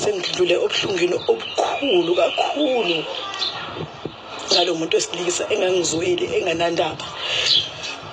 sengidlule obuhlungwini obukhulu kakhulu ngalo muntu wesilisa engangizweli enganandaba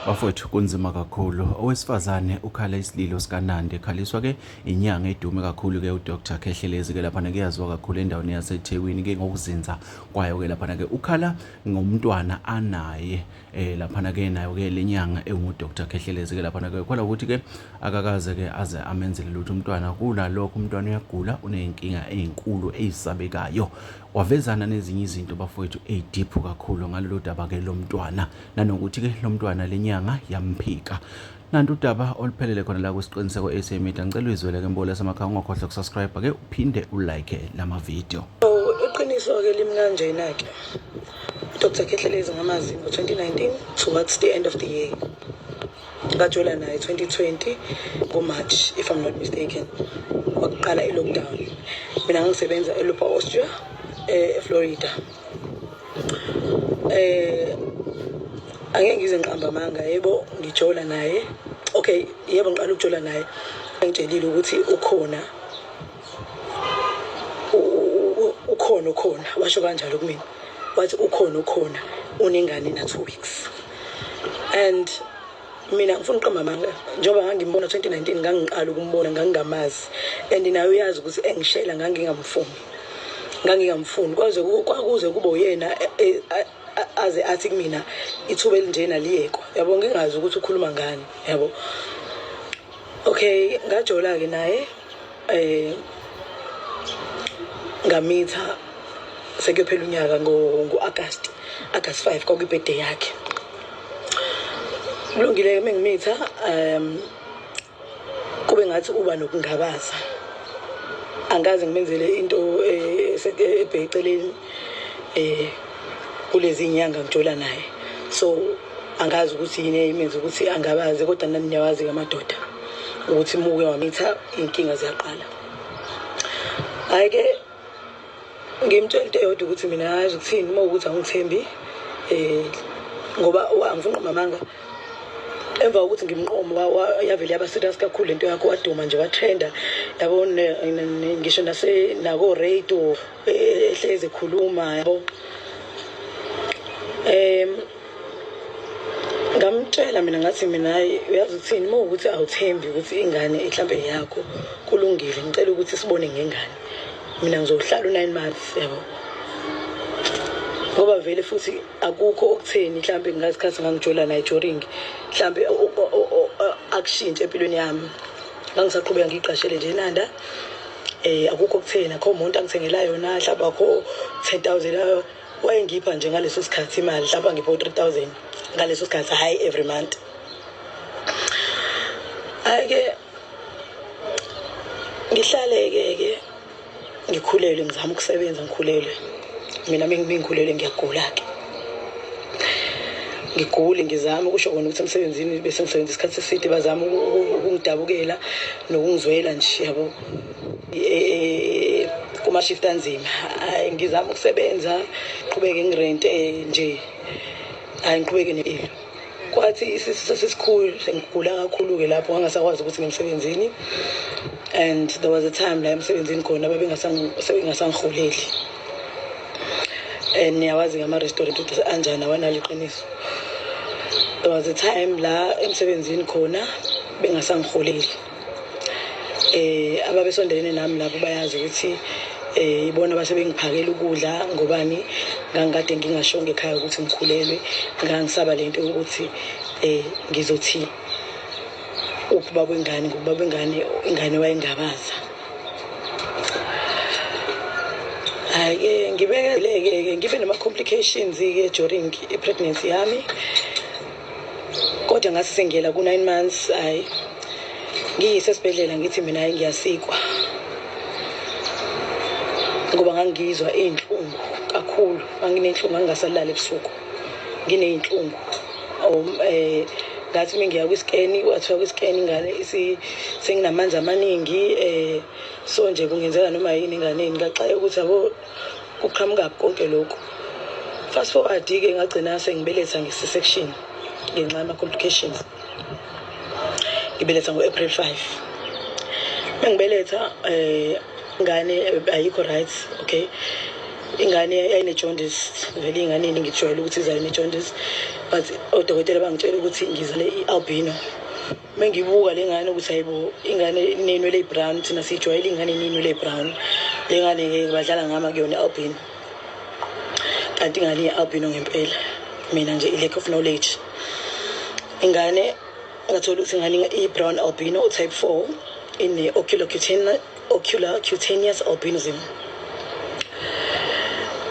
bafowethu kunzima kakhulu owesifazane ukhala isililo sikanandi ekhaliswa ke inyanga edume kakhulu ke udr khehlelezi ke laphana kuyaziwa kakhulu endaweni yasethekwini ke ngokuzinza kwayo ke laphana ke ukhala ngomntwana anaye eh laphana ke nayo ke lenyanga engu Dr Khehlelezi ke laphana ke khola ukuthi ke akakaze ke aze amenzele lutho umntwana kula lokho umntwana uyagula unenkinga ezinkulu ezisabekayo wavezana nezinye izinto bafowethu ezideep kakhulu ngalolu daba ke lomntwana nanokuthi ke lomntwana lenyanga yamphika Nanti udaba oluphelele khona la kwisiqiniseko SA Media ngicela uyizwele ke mbole samakhaya ungakhohlwa ukusubscribe ke uphinde ulike lama video iqiniso ke limkanjena ke uDr Khehlelezi ngamazi ngo-2019 towards the end of the year ngajola naye 2020 ngomarch if i'm not mistaken wakuqala i-lockdown mina ngangisebenza elupa austria eh, eflorida eh angeke ngize ngiqamba amanga yebo ngijola naye okay yebo ngiqala ukujola naye engitshelile ukuthi ukhona ukhona ukhona washo kanjalo kumina wathi ukhona ukhona unengane na 2 weeks and mina ngifuna uqamba amanga njengoba ngangimbona 2019 ngangiqala ukumbona ngangingamazi and naye uyazi ukuthi engishela ngangingamfuni ngangingamfuni kwaze kwakuze kube uyena e, e, aze athi kumina ithuba elinjena liyekwa yabo ngingazi ukuthi ukhuluma ngani yabo okay ngajola-ke naye um ngamitha sekuyophela unyaka ngo-agast agast five kwakuyibhede yakhe kulungile-ke uma ngimitha um kube ngathi uba nokungabaza angikaze ngimenzele into eh, eh, ebheceleni um eh, kulezi nyanga ngijola naye so angazi ukuthi yini eyimenza ukuthi angabazi kodwa nami niyawazi ke amadoda ukuthi muke wamitha iy'nkinga ziyaqala hhayi-ke ngimtshela into eyodwa ukuthi mina yazi ukuthini uma ukuthi angithembi um ngoba angifuni nqoma amanga emva kokuthi ngimnqomo yavele yaba serious kakhulu lento yakho waduma nje watrenda yabo ngisho nase nako-radio ehlezi ekhuluma yabo um ngamtshela mina ngathi mina hayi uyazi ukuthini uma ukuthi awuthembi ukuthi ingane mhlawumbe yakho kulungile ngicela ukuthi sibone ngengane mina ngizohlala u-nine months yabo ngoba vele futhi akukho okutheni mhlawumbe ngasikhathi ngangijola naye joring mhlawumbe akushintshe empilweni yami ngangisaqhubeka ngiyiqashele nje inanda eh akukho okutheni akho umuntu angithengela yona mhlawumbe akho 10000 wayengipha nje ngaleso sikhathi imali mhlawumbe angipha 3000 ngaleso sikhathi hayi every month ayike ngihlale ke ke ngikhulelwe ngizama ukusebenza ngikhulelwe mina mengikhulelwe ngiyagula-ke ngigule ngizame ukusho kona ukuthi emsebenzini bese ngisebenza isikhathi eside bazama ukungidabukela nokungizwela nje yabo e, e, e, kumashift anzima hayi ngizama ukusebenza qhubeke ngirente nje hayi ngiqhubeke nempilo kwathi isisu sasisikhulu sengigula kakhulu-ke lapho ngangasakwazi ukuthi ngimsebenzini and there was a time la emsebenzini khona bebengasangirholeli and niyawazi ngama-restaurant ukuthi anjani awanalo iqiniso there was a time la emsebenzini khona bengasangirholeli eh ababesondelene nami lapho bayazi ukuthi eh ibona base bengiphakela ukudla ngobani ngangikade ngingashonge ekhaya ukuthi ngikhulelwe ngangisaba lento ukuthi eh ngizothi ukuba kwengane ngoba kwengane ingane wayengabaza hayi ke ngibekeleke ngibe nama complications ke during i pregnancy yami kodwa ngase sengiyela ku-nine months hhayi ngiyise esibhedlela ngithi mina hhayi ngiyasikwa ngoba ngangizwa iy'nhlungu kakhulu nganginey'nhlungu ngangingasalali ebusuku nginey'nhlungu um eh, ngathi uma ngiya kwisikeni wathiwa kwisikeni ingane senginamanzi amaningi um so nje kungenzeka noma yini enganeni ngaxaye ukuthi yabo kuqhamukaphi konke lokhu fast forward-ke ngagcina sengibeletha ngesi-section ngenxa yama-complications ngibeletha ngo-april 5 uma ngibeletha um eh, ngane eh, ayikho right okay ingane yayine-jondis vele iy'ngane yini ngijwayele ukuthi izayine-jondis but odokotela bangitshela ukuthi ngizale i-albino mengibuka le ngane ukuthi hayibo ingane inenwele brown thina sijwayele ingane inenwele brown le ngane ke badlala ngama kuyona albino kanti ingane ye-albino ngempela mina nje i-lack of knowledge ingane ngathola ukuthi ingane i-brown albino type four ine-oculocutine ocular cutaneous albinism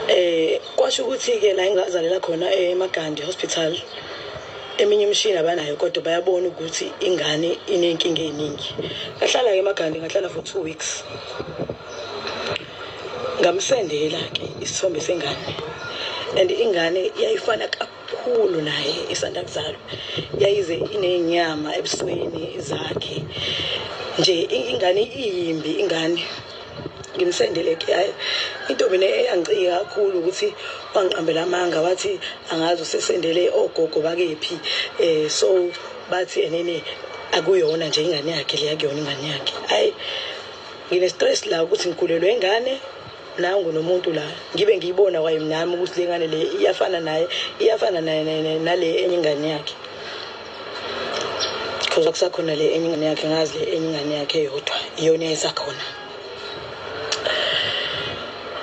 eh kwasho ukuthi ke la engazalela khona eMagandi Hospital eminye imishini abanayo kodwa bayabona ukuthi ingane inenkinga eningi ngahlala ke eMagandi ngahlala for 2 weeks ngamsendela ke isithombe sengane and ingane yayifana khulu naye isanda kuzalwa yayize inenyama ebusweni zakhe nje ingane iyimbi ingane ngimsendele ekhaya intombi ne eyangicika kakhulu ukuthi wangiqambela amanga wathi angazi usesendele ogogo bakephi eh so bathi enene akuyona nje ingane yakhe leya kuyona ingane yakhe ayi ngine stress la ukuthi ngikhulelwe ingane nangu nomuntu la ngibe ngiyibona kwaye nami ukuthi le ngane le iyafana naye iyafana naye nale enye ingane yakhe because akusakhona le enye ingane yakhe ngazi le enye ingane yakhe yodwa iyona esakhona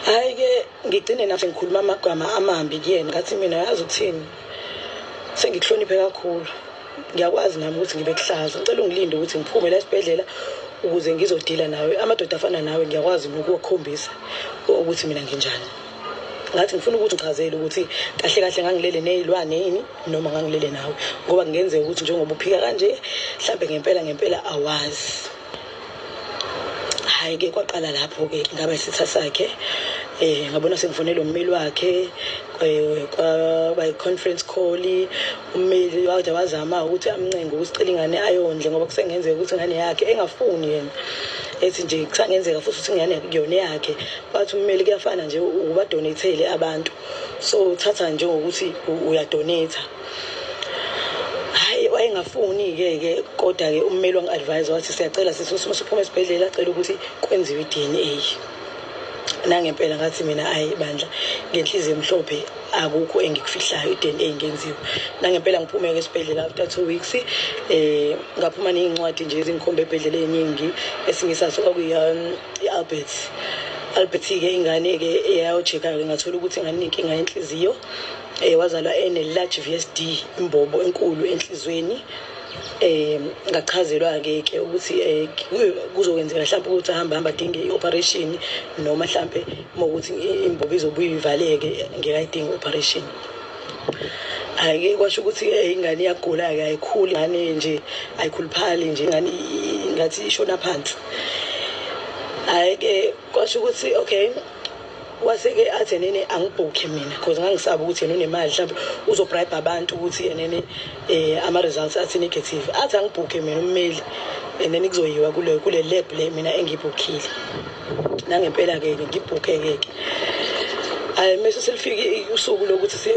hayi ke ngigcine nathi ngikhuluma amagama amambi kuyena ngathi mina yazi ukuthini sengikuhloniphe kakhulu ngiyakwazi nami ukuthi ngibe kuhlaza ngicela ungilinde ukuthi ngiphume la esibhedlela ukuze ngizodila nawe amadoda afana nawe ngiyakwazi nokuwakhombisa ukuthi mina nginjani ngathi ngifuna ukuthi ngichazele ukuthi kahle kahle ngangilele nezilwane yini noma ngangilele nawe ngoba kungenzeka ukuthi njengoba uphika kanje mhlambe ngempela ngempela awazi hayi ke kwaqala lapho ke ngaba isitha sakhe eh ngabona sekufonela ummeli wakhe eh, kwaba i-conference call ummeli wade wazama ukuthi amncenge ukuthi cela ingane ayondle ngoba kusengenzeka ukuthi ingane yakhe engafuni yena ethi nje kusangenzeka futhi ukuthi ingane kuyona yakhe bathi ummeli kuyafana nje ubadonethele abantu so uthatha njengokuthi uyadonetha hayi wayengafuni-ke ke kodwa-ke ummeli wangi-advise wathi siyacela sisi ukuthi usuphuma esibhedlela acela ukuthi kwenziwe i-d n a nangempela ngathi mina ayi bandla ngenhliziyo emhlophe akukho engikufihlayo i-d n a ngenziwe nangempela ngiphumeke esibhedlela after two weeks um ngaphuma neyincwadi nje ezingikhomba ebhedlela ey'ningi esinye saso kwakuyi-albert um albert-ke ingane-ke eyayojeka-ke ngathola ukuthi ingane inenkinga yenhliziyo Eh wazalwa ene large VSD imbobo enkulu enhlizweni. Eh ngachazelwa ke ke ukuthi eh kuzokwenzeka mhlawumbe ukuthi ahamba hamba dinge ioperation noma mhlawumbe ukuthi imbobo izobuye ivaleke ngekayidinga operation. Ayike kwasho ukuthi eh, ingane iyagula ke ayikhuli ngane nje ayikhuluphali nje ingane ngathi ishona phansi. Ayike kwasho ukuthi okay wase-ke athi enene angibhukhe mina cause ngangisaba ukuthi yena unemali mhlawumbe uzobribe abantu ukuthi enene um eh, ama-results athi negative athi angibhukhe mina ummeli and then kuzoyiwa kule kule lab le mina engibhukhile nangempela ke ke ngibhukhe ke ke ay mase selifike usuku lokuthi siye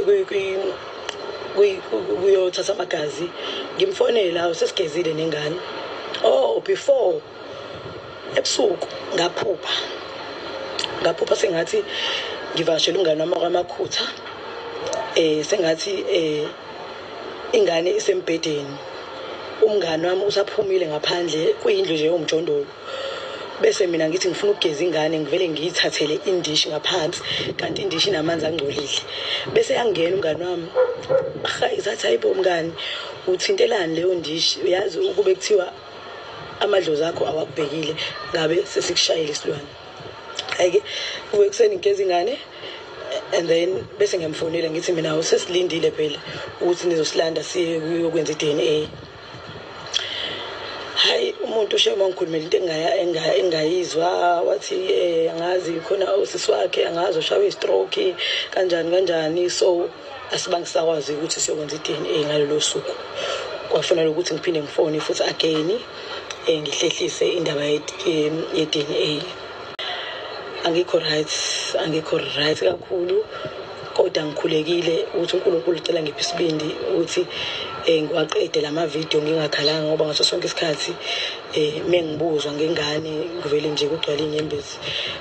kuyothatha amagazi ngimfonela usesigezile nengane oh before ebusuku ngaphupha ngaphupha sengathi ngivakashela umngane wami kwamakhutha eh sengathi eh ingane isembhedeni umngane wami usaphumile ngaphandle kuyindlu nje yomjondolo bese mina ngithi ngifuna ukugeza ingane ngivele ngiyithathele indishi ngaphansi kanti indishi inamanzi angcolile bese yangena umngane wami ahayi zathi hayibo mngani uthintelani leyo ndishi uyazi ukube kuthiwa amadlozi akho awakubhekile ngabe sesikushayile isilwane ayike kuwe kuseni ngigeza ingane and then bese ngiyamfonela ngithi mina usesilindile phela ukuthi nizosilanda siye kuyokwenza i-dna hayi umuntu ushema ngikhulumela into engayizwa wathi um angazi khona usisi wakhe angazi ushawe i-stroke kanjani kanjani so asibange sakwazi ukuthi siyokwenza i-dna ngalolo suku kwafanele ukuthi ngiphinde ngifone futhi again um ngihlehlise indaba ye-dna angikho right angikho right kakhulu kodwa ngikhulekile ukuthi unkulunkulu ucela ngiphi isibindi ukuthi um ngiwaqede la mavidiyo ngingakhalanga ngoba ngaso sonke isikhathi um uma ngibuzwa ngengane ngivele nje kugcwale inyembezi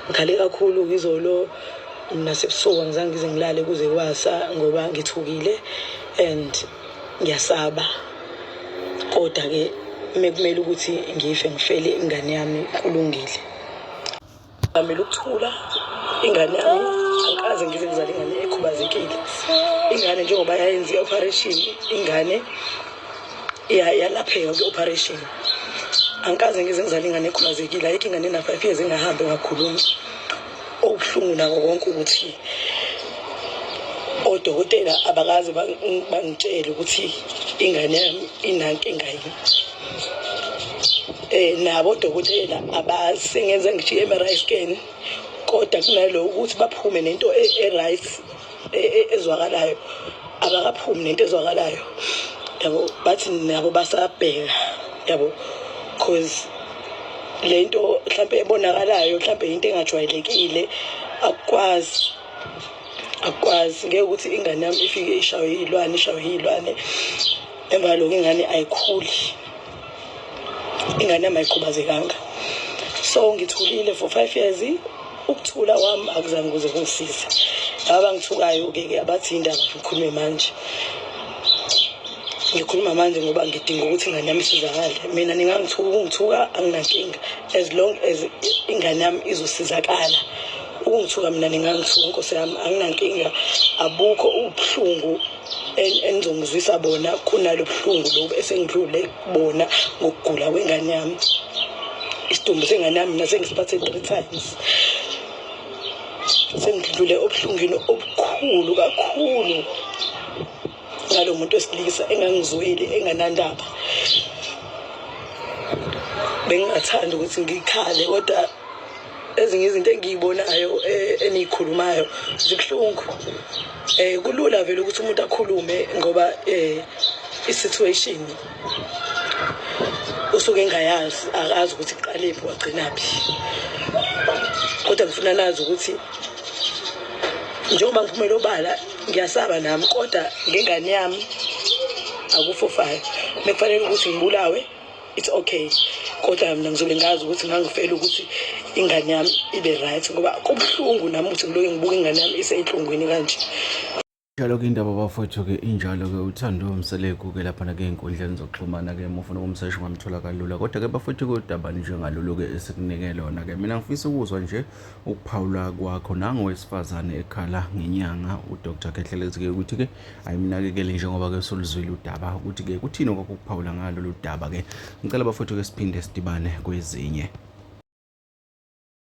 ngikhale kakhulu ngizolo nasebusuku angizange ngize ngilale kuze kwasa ngoba ngithukile and ngiyasaba kodwa-ke mekumele ukuthi ngife ngifele ingane yami kulungile amele ukuthula ingane yami angikaze ngize ngizale ingane ekhubazekile ingane njengoba yayenza i-operation ingane yalapheka kwi-operation angikaze ngize ngizale ingane ekhubazekile ayikho ingane ena-five years engahambi ngakhuluma okubuhlungu nako konke ukuthi odokotela abakaze bangitshele ukuthi ingane yami inankinga yini eh nabo odokotela abasengenza ngishiye eMRI scan kodwa kunalowo ukuthi baphume nento e-right e, e, ezwakalayo akakaphumi nento ezwakalayo yabo bathi nabo basabheka yabo cause lento mhlambe ebonakalayo mhlambe into engajwayelekile akukwazi akukwazi ngeke ukuthi ingane yami ifike ishawe yilwane ishawe yilwane emva lokho ingane ayikhuli ingane yami ayikhubazekanga so ngithulile for five years ukuthula kwami akuzange kuze kungisize laba bangithukayo-ke ke abathi indaba ngikhulume manje ngikhuluma manje ngoba ngidinga ukuthi ingane yami isizakale mina ningangithuka ukungithuka anginankinga as long as ingane yami izosizakala ukungithuka mina ningangithuka nkosi yami anginankinga abukho ubuhlungu engizongizwisa bona khonalo buhlungu lobu esengidlule bona ngokugula kwengane yami isidumbu sengane yami mina sengisiphathe three times sengidlule obuhlungwini obukhulu kakhulu ngalo muntu wesilisa engangizweli enganandaba bengingathanda ukuthi ngikhale kodwa ezinye izinto engiyibonayo eh, eniyikhulumayo zibuhlungu eh kulula vele ukuthi umuntu akhulume ngoba eh i-situation usuke engayazi akazi ukuthi kuqalephi wagcinaphi kodwa ngifuna nazi ukuthi njengoba ngiphumela obala ngiyasaba nami kodwa ngengane yami akufofayo mekufanele ukuthi ngibulawe it's okay kodwa mina ngizobe ngazi ukuthi ngangifela ukuthi ingane yami ibe right ngoba kubuhlungu nami ukuthi ngiloke ngibuka ingane yami iseyinhlungwini kanje njalo ke indaba bafowethu-ke injalo-ke uthando umseleku-ke laphana ke ey'nkundleni zokuxhumana-ke uma ufuna ukumsesha ungamthola kalula kodwa-ke bafowethu-ke udaba njengalolu-ke esikunike lona-ke mina ngifisa ukuzwa nje ukuphawula kwakho nangowesifazane ekhala ngenyanga udr khehlelezi-ke ukuthi-ke ayimnakekeli njengoba ke soluzwile udaba ukuthi ke kuthini okwakukuphawula ngalo ludaba ke ngicela bafowethu ke siphinde sidibane kwezinye